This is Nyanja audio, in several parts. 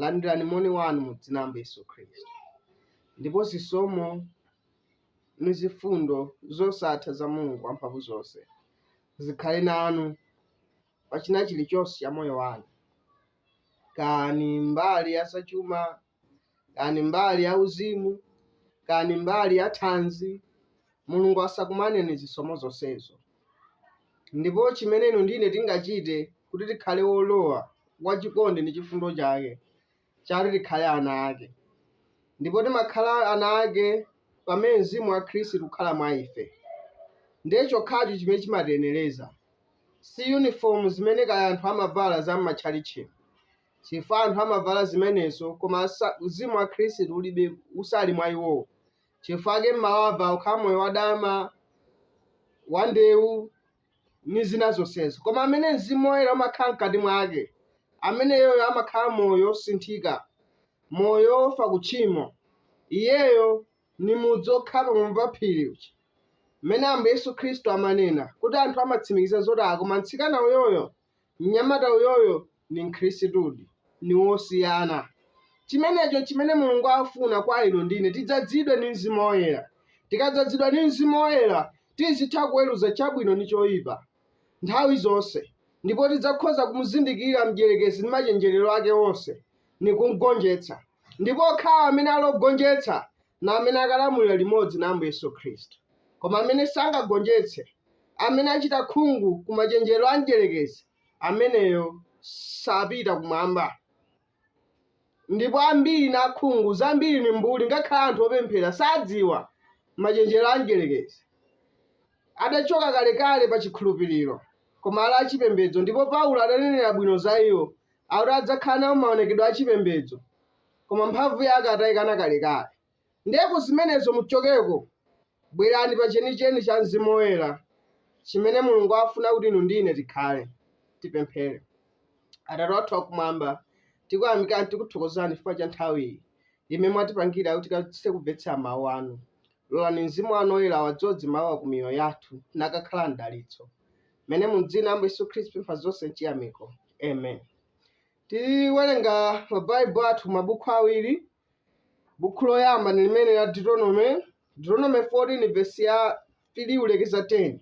Landirani moni wanu mu dzina la Ambuye Yesu Khristu. Ndipo zisomo ndi zifundo zosatha za Mulungu wamphamvu zonse zikhale nanu pa china chilichonse cha moyo wanu, kani mbali ya zachuma, kani mbali ya uzimu, kani mbali ya thanzi, Mulungu asakumaneni zisomo zonsezo. Ndipo cimene inu ndi ine tingacite kuti tikhale wolowa wa cikondi ndi cifundo cake, cati tikhale ana ake. Ndipo timakhala ana ake pamene mzimu wa Khristu ukhala mwa ife. Ndiye cokhaco cimene cimatiyenereza si yunifomu zimene kaya anthu amavala za m'matchalitchimu, cifukwa anthu amavala zimenezo koma mzimu wa Khristu ulibe, usali mwa iwowo. Chifukwa ake mmawava ukhala moyo wadama, wandewu, ndi zina zonsezo. Koma amene Mzimu Woyera umakhala mkati mwake, ameneyoyo amakhala moyo wosinthika, moyo wofa ku tchimo. Iyeyo ndi mudzi wokhala pamwamba pa phiri uja, mmene Ambuye Yesu Khristu amanena, kuti anthu amatsimikiza zoti, ah, koma mtsikana uyoyo! Mnyamata uyoyo ndi Mkhrisitudi, ndi wosiyana. Chimenecho chimene Mulungu afuna kwa inu ndi ine, tidzadzidwe ndi Mzimu Woyera. Tikadzadzidwa ndi Mzimu Woyera, tizitha kuweruza chabwino ndi choipa, nthawi zonse, ndipo tidzakhoza kumuzindikira mdyerekezi ndi machenjerero ake onse, ndi kumgonjetsa. Ndipo okhawo amene ali ogonjetsa na amene akalamulira limodzi na Ambuye Yesu Khristu, koma amene sangagonjetse, amene achita khungu ku machenjerero a Mdyerekezi, ameneyo sapita kumwamba. Ndipo ambiri ni akhungu, zambiri ni mbuli, ngakhale anthu opemphera sadziwa machenjerero a Mdyelekezi. Adachoka kalekale pa chikhulupiriro, koma ali achipembedzo, ndipo Paulo adanenera bwino za iwo, akuti adzakhala nawo maonekedwe achipembedzo, koma mphamvu yake ataikana kalekale. Ndiye ku zimenezo muchokeko, bwerani pa chenicheni cha Mzimu Woyera, chimene Mulungu afuna kuti inu ndi ine tikhale. Tipemphere. Atate wathu wakumwamba, tikuyamikani tikuthokozani chifukwa cha nthawi iyi imene mwatipangira kuti tikathe kumvetsera mawu anu. Lolani Mzimu wanu Woyera wadzoze mawuwa ku miyoyo yathu nakakhala mdalitso. Mmene mu dzina la Ambuye Yesu Khristu tipempha zonse m'chiyamiko. Amen. Tiwerenga mabaibulo athu mabuku awiri, buku loyamba ndi limene la Deuteronome, Deuteronome 14 vesi ya 3 kulekeza 10.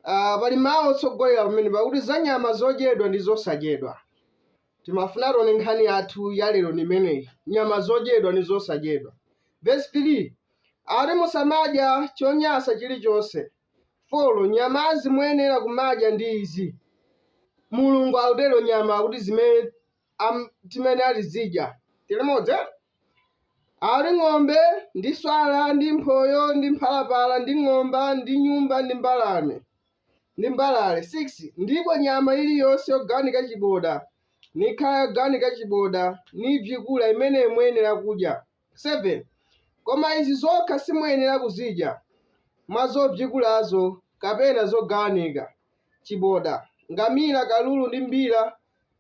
Ah, pali mawu otsogolera pamene pakuti za nyama zodyedwa ndi zosadyedwa. Timafuna tione nkhani yathu ya lero ndi imeneyi, nyama zodyedwa ndi zosadyedwa. Vesi 3 ati musamadya chonyansa chilichonse, 4 nyamazi muyenera kumadya ndi izi mulungu akutero nyama kuti zimene am- timene atizidya tilimodzi eh? ati ng'ombe ndi swala ndi mphoyo ndi mphalapala ndi ng'omba ndi nyumba ndi mbalame ndi mbalale 6 ndipo nyama iliyonse yogawanika chiboda nikhala yogawanika chiboda nibzikula imene muyenera kudya 7 koma izi zokha simuyenera kuzidya, mwa zobzikulazo, kapena zogawanika, chiboda, ngamila, kalulu, ndi mbira,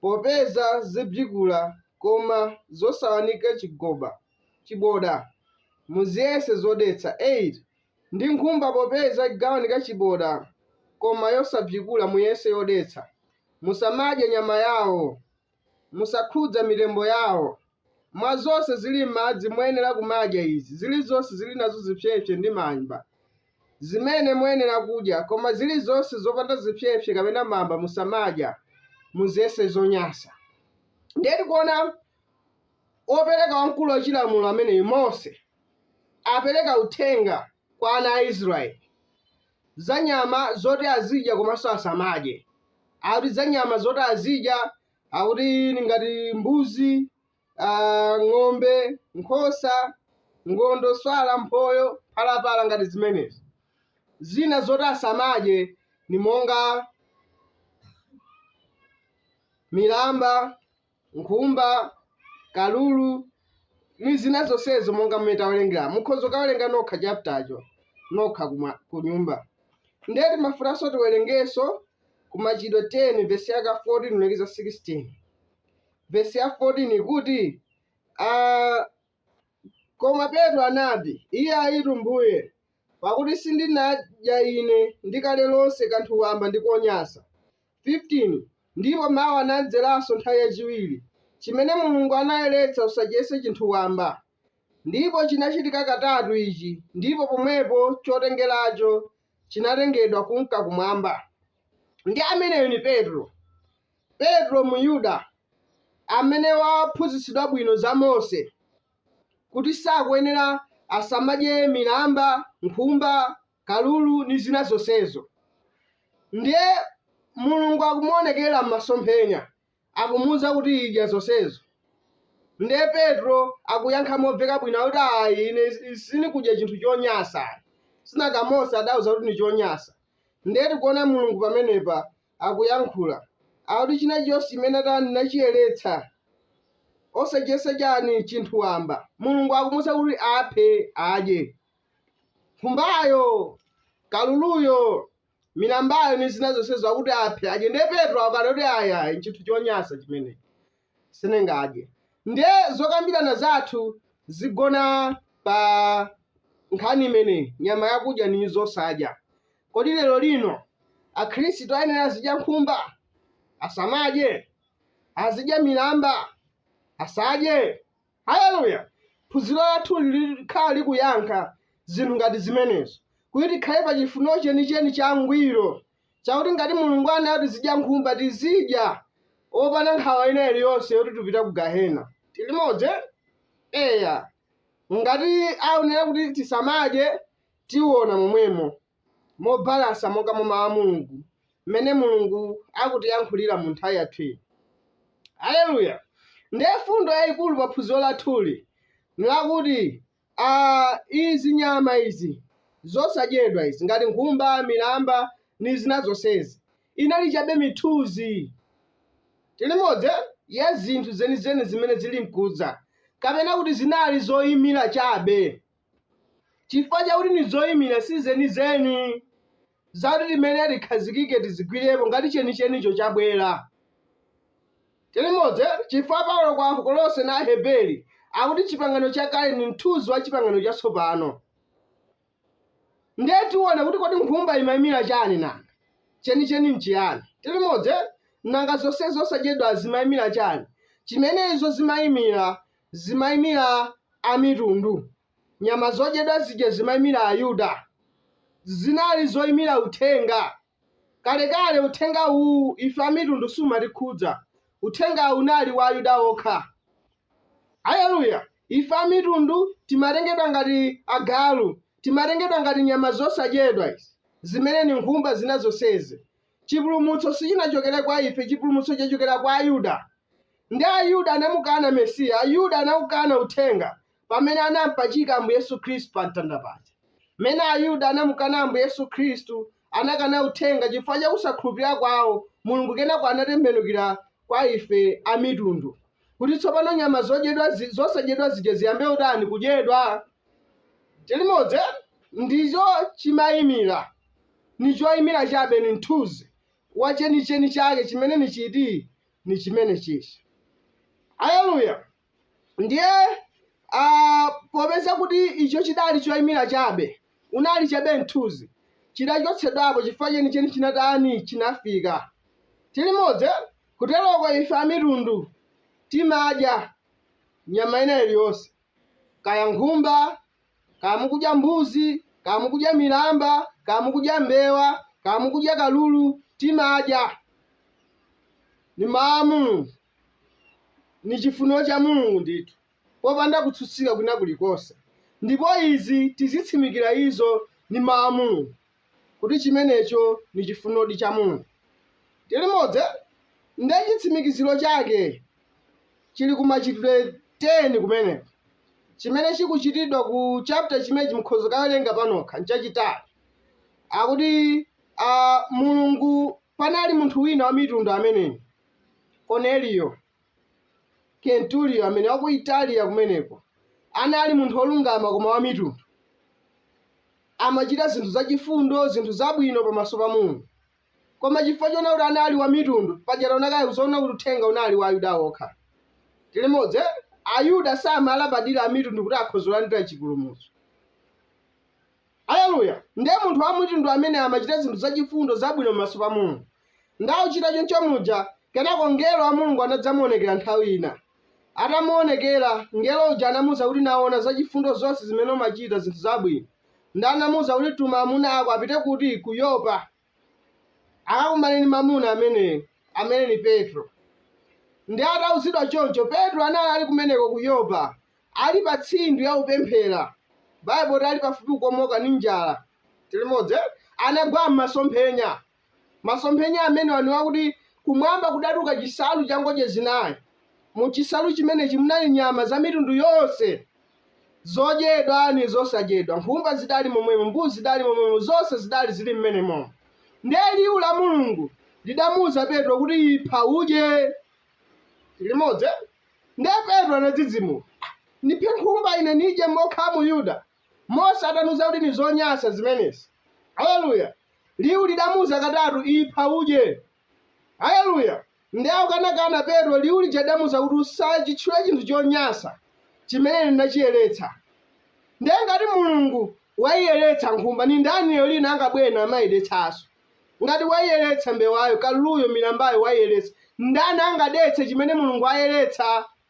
popeza zibzikula, koma zosawanika chigoba, chiboda, muziyese zodetsa, 8 ndi nkhumba, popeza igawanika chiboda, koma yosabzikula, muyese yodetsa, musamadye nyama yao. Musakhudza mitembo yawo. Mwa zonse zili m'madzi muyenera kumadya izi, zilizonse zili nazo zipsepse ndi mamba, zimene muyenera kudya, koma zilizonse zopanda zipsepse kapena mamba musamadya, muziyese zonyansa. Ndiye tikuona wopereka wamkulu wa chilamulo ameneyu Mose apereka uthenga kwa ana a Israeli. za nyama zoti azidya komanso asamadye. Akuti za nyama zoti azidya akuti ni ngati mbuzi, ah, ng'ombe, nkhosa, ngondo, swala, mphoyo, phalapala ngati zimenezi. Zina zoti asamadye ni monga milamba, nkhumba, kalulu ni zina zonsezo monga mmene tawerengera mukhoza kukawerenga nokha chaptacho nokha kumwa- ku nyumba ndiye timafunanso tiwerengenso ku machitidwe 10 vesi yake 14 kulekeza 16 vesi ya 14 ikuti ah, koma petro anati iyayitu mbuye pakuti sindinadya ine ndi kale lonse kanthu wamba ndi konyansa 15 ndipo mau anamdzeranso nthawi yachiwiri, Chimene Mulungu anayeretsa, usachiyese chinthu wamba. Ndipo chinachitika katatu ichi, ndipo pomwepo chotengeracho chinatengedwa kunka Kumwamba. Ndi ameneyu ni Petro. Petro, Myuda, amene waphunzitsidwa bwino za Mose, kuti sakuyenera asamadye milamba, nkhumba, kalulu ndi zina zonsezo. Ndiye Mulungu akumuonekera m'masomphenya akumuuza kuti idya zonsezo. Ndiye Petro akuyankha momveka bwino akuti ayi ine si- sindikudya chinthu chonyansa. Sinanga Mose adauza kuti ndi chonyansa. Ndiye tikuona Mulungu pamenepa akuyankhula akuti china chilichonse chimene atani nachiyeretsa osachiyesa chani chinthu wamba. Mulungu akumuuza kuti aphe adye. nkhumbayo, kaluluyo, milambayo ndi zina zonsezo akuti aphe adye ndiye petro akunena kuti ayayi nchinthu chonyansa chimene sindingadye ndiye zokambirana zathu zigona pa nkhani imeneyi nyama yakudya ndi zosadya kodi lero lino akhristu ayenera azidya nkhumba asamadye azidya milamba asadye Haleluya! Phunziro lathu likhala likuyankha zinthu ngati zimenezo, kuti tikhale pa chifuniro chenicheni changwiro chakuti ngati Mulungu anena kuti tizidya nkhumba, tizidya opanda nkhawa ina iliyonse yoti tipita ku gahena. Tili limodzi? Eya. Ngati aonera kuti tisamadye, tiona momwemo. mobalansa monga mwa Mawu a Mulungu, mmene Mulungu akutiyankhulira mu nthawi yathu ino. Aleluya! Ndiye mfundo yayikulu pa phunziro lathuli nlakuti, a, izi nyama izi zosadyedwa izi, ngati nkhumba, milamba, ndi zina zonsezi, inali chabe mithunzi, tilimodzi eh, ya zinthu zenizeni zimene ziri nkudza, kapena kuti zinali zoyimira chabe. chifukwa chakuti ndi zoimira si zenizeni zakuti tiime tikhazikike tizigwirepo ngati chenichenicho chabwera. Tilimodzi chifukwa Paulo kwa Akolose na Aheberi akuti chipangano chakale ndi mthunzi wa chipangano chatsopano. Ndiye tiona kuti kodi nkhumba imaimira chani nanga chenicheni nchiyani? Tilimodzi nanga zonse zosadyedwa zimaimira chani? Chimene izo zimaimira zimaimira Amitundu, nyama zodyedwa zija zimaimira Ayuda. Zinali zoimira Uthenga. Kalekale, Uthenga uwu, ife Amitundu sumatikhudza. Uthenga unali wa Ayuda okha. Aleluya! Ife Amitundu timatengedwa ngati agalu, timatengedwa ngati nyama zosadyedwa izi, zimene ndi nkhumba zina zonsezi. Chipulumutso sichinachokere kwa ife, chipulumutso chachokera kwa Ayuda. Ndiye Ayuda anamukana Mesiya, Ayuda anawukana Uthenga pamene anampachika Ambuye Yesu Khristu pa mtanda paja. Mmene Ayuda anamukana Ambuye Yesu Khristu, anakana Uthenga chifukwa cha kusakhulupirira kwawo, Mulungu kenako anatembenukira kwa ife Amitundu, kuti tsopano nyama zodyedwa zi- zosadyedwa zija ziyambe utani kudyedwa. Tilimodzi? Ndicho chimayimira. ni coimila cabe, ni mthunzi wa ceniceni cake cimene ni citi? Ni cimene cici. Aleluya! Ndiye, a, popeza kuti ico cidali coimila cabe, unali cabe mthunzi, cidacotsedwapo cifukwa ceniceni cinatani? Cinafika. Tilimodzi? Kuteloko ife Amitundu timadya nyama ina iliyonse, kaya nkhumba, kaya mukudya mbuzi kaya mukudya milamba kaya mukudya mbewa kaya mukudya kalulu timadya ni mawu a mulungu ni chifuniro cha mulungu ndithu popanda kutsutsika kwina kulikonse ndipo izi tizitsimikira izo ni mawu a mulungu kuti chimenecho ni chifunirodi cha Mulungu. Tili limodzi? Ndiye chitsimikiziro chake chili ku Machitidwe 10 kumeneko, chimene chikuchitidwa ku chapter chimenechi mukhoza kukawerenga panokha, nchachitali. Akuti a, Mulungu, panali munthu wina Wamitundu ameneyi, Korneliyo. Kenturiyo, amene wa ku Italiya kumeneko, anali munthu wolungama koma wamitundu. Amachita zinthu zachifundo, zinthu zabwino pamaso pa Mulungu. Koma chifukwa choona kuti anali wamitundu, paja taona kale zoona kuti uthenga unali wa Ayuda okha. Tili limodzi? Eh? Ayuda samalabadira amitundu kuti akhoza kulandira chipulumutso. Aleluya! Ndiye munthu Wamitundu ameneyo amachita zinthu zachifundo, zabwino pamaso pa Mulungu. Nde akuchita choncho muja, kenako Mngelo wa Mulungu anadzamuonekera nthawi ina. Atamuonekera, Mngelo uja anamuuza kuti naona zachifundo zonse zimene umachita, zinthu zabwino. Nde anamuuza kuti tuma amuna ako apite kuti? Ku Yopa. akakumane ndi mamuna ameneyo amene ni petro nde atauzidwa choncho petro anali ali kumeneko ku yopa ali pa tsindwi akupemphera baibulo ati ali pafupi kukomoka ni njala tili limodzi eh? anagwa m'masomphenya masomphenya amenewa ni wakuti kumwamba kudatuka chinsalu cha ngodya zinayi mu chinsalu chimenechi munali nyama za mitundu yonse Zodyedwa ndi zosadyedwa, nkhumba zidali momwemo, mbuzi zidali momwemo, zonse zidali zili mmenemo. Ndiye liwu la Mulungu lidamuuza Petro kuti, Ipha, udye. Tili limodzi? eh? Ndiye Petro anadzidzimuka. "Ah, Ndiphe nkhumba ine nidye monga Myuda? Mose ataniuza kuti ndi zonyansa zimenezi. Haleluya! Liwu lidamuuza katatu, Ipha, udye. Aleluya! Nde akukanakana Petro liwu lija lidamuuza kuti usachitche chinthu chonyansa chimene ine ndinachiyeretsa. Nde ngati Mulungu waiyeretsa nkhumba ni ndani lero lino angabwere namaidetsaso? Ngati waiyeretsa mbewayo, kaluluyo, milambayo waiyeretsa, ndani angadetse chimene Mulungu ayeretsa?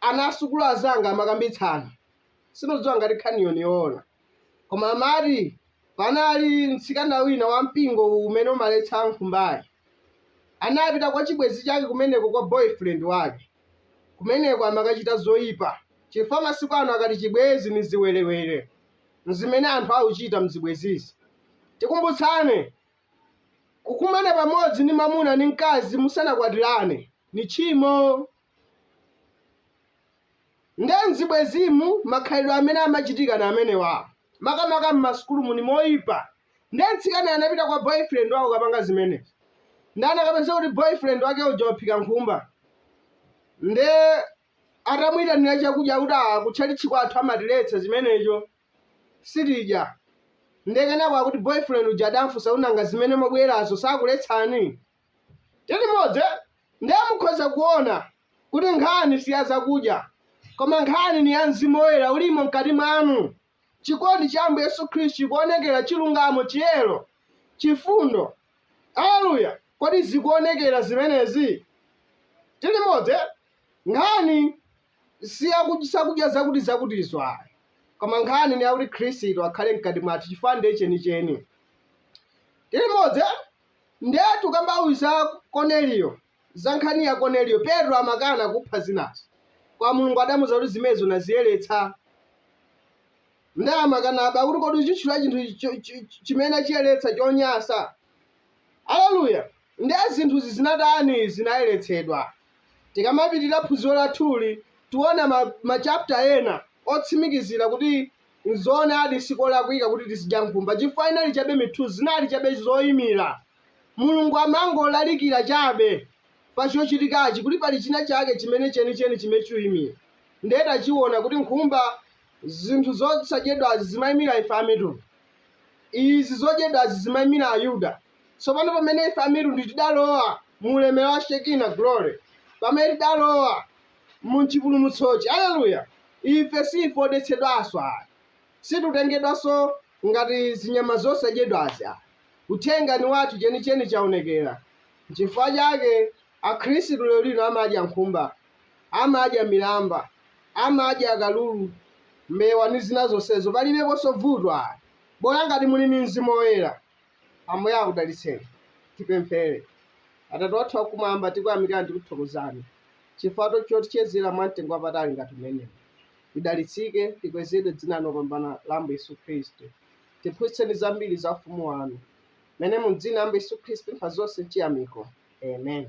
Ana a sukulu anzanga amakambitsana, sindidziwa ngati nkhaniyo ni yoona. Koma amati, panali mtsikana wina wa mpingo uwu umene umaletsa nkhumbayi. Anapita kwa chibwenzi chake kumeneko kwa boyfriend wake. Kumeneko amakachita zoipa, chifukwa masiku ano akati chibwenzi ni ziwerewere. N'zimene anthu akuchita m'zibwenzizi. Tikumbutsane, Kukumana pamodzi ni mamuna ni mkazi musanakwatirane ni tchimo. nde mzibwezimu makhalidwe amene amachitika na amenewa makamaka mmasukulumu ni oipa nde mtsikana anapita kwa boyfriend wake kukapanga zimenezi nde anakapeza kuti boyfriend wake uja waphika nkhumba nde atamuyitanira chakudya kuti "Ah, kutchalitchi kwathu amatiletsa zimenezo sitidya nde kenako akuti boyfriend uja adamfunsa nanga zimene mwabwerazo sakuletsani Tili modzi eh? Nde mukhoza kuona kuti nkhani si ya zakudya, koma nkhani ni ya Mzimu Woyera ulimo mkati mwanu, chikondi cha Ambuye Yesu Khristu chikuonekera, chilungamo, chiyero, chifundo. Aleluya! Kodi zikuonekera zimenezi? Tili modzi eh? Nkhani si ya zakudya zakuti zakutizo ayi, koma nkhani ni yakuti Khristu akhale mkati mwathu, chifukwa ndiye chenicheni. Tili modzi eh? Ndiye tukambabe za Koneliyo, za nkhani ya Koneliyo, Petro amakana kupha zinazo, koma Mulungu adamuza kuti zimenezo naziyeletsa. Nde amakanabe akuti kodi uchitchula chinthu cho- chi- chi- chimene achiyeletsa chonyansa. Aleluya. Ndiye zinthuzi zinatani zinayeletsedwa. Tikamapitirira phunziro lathuli, tiona ma, ma chapter ena otsimikizira kuti N'zoonadi, si kolakwika kuti tizidya nkhumba chifukwa inali chabe mithunzi, zinali chabe zoimira. Mulungu amangolalikira chabe pa chochitikachi kuti pali chinachake chimene chenicheni chimene chikuimira. Ndiye tachiona kuti nkhumba, zinthu zosadyedwazi, zimaimira ife Amitundu. Izi zodyedwazi zimaimira Ayuda. Tsopano pamene ife Amitundu tidalowa mu ulemerero wa Shekinah Glory, pamene tidalowa. mu chipulumutsochi. Aleluya! Ife si ife odetsedwanso ayi. Situtengedwanso ngati zinyama zosadyedwazi ayi. Uthenga ni wathu chenicheni chaonekera. Nchifukwa chake Akhristu lero lino amadya nkhumba, amadya milamba, amadya kalulu, mbewa ni zina zonsezo. Palibeponso vuto ayi, bola ngati muli ni Mzimu Woyera. Ambuye akudalitseni. Tipemphere. Atate wathu wakumwamba, tikuyamikani tikuthokozani chifukwa to- chotichezera mwa mtengo wapatali ngati umenewu. Lidalitsike, likwezedwe dzina lanu lopambana la Ambuye Yesu Khristu. Tiphunzitseni zambiri za ufumu wanu. Mene mu dzina la Ambuye Yesu Khristu tapempha zonse mchiyamiko. Amen.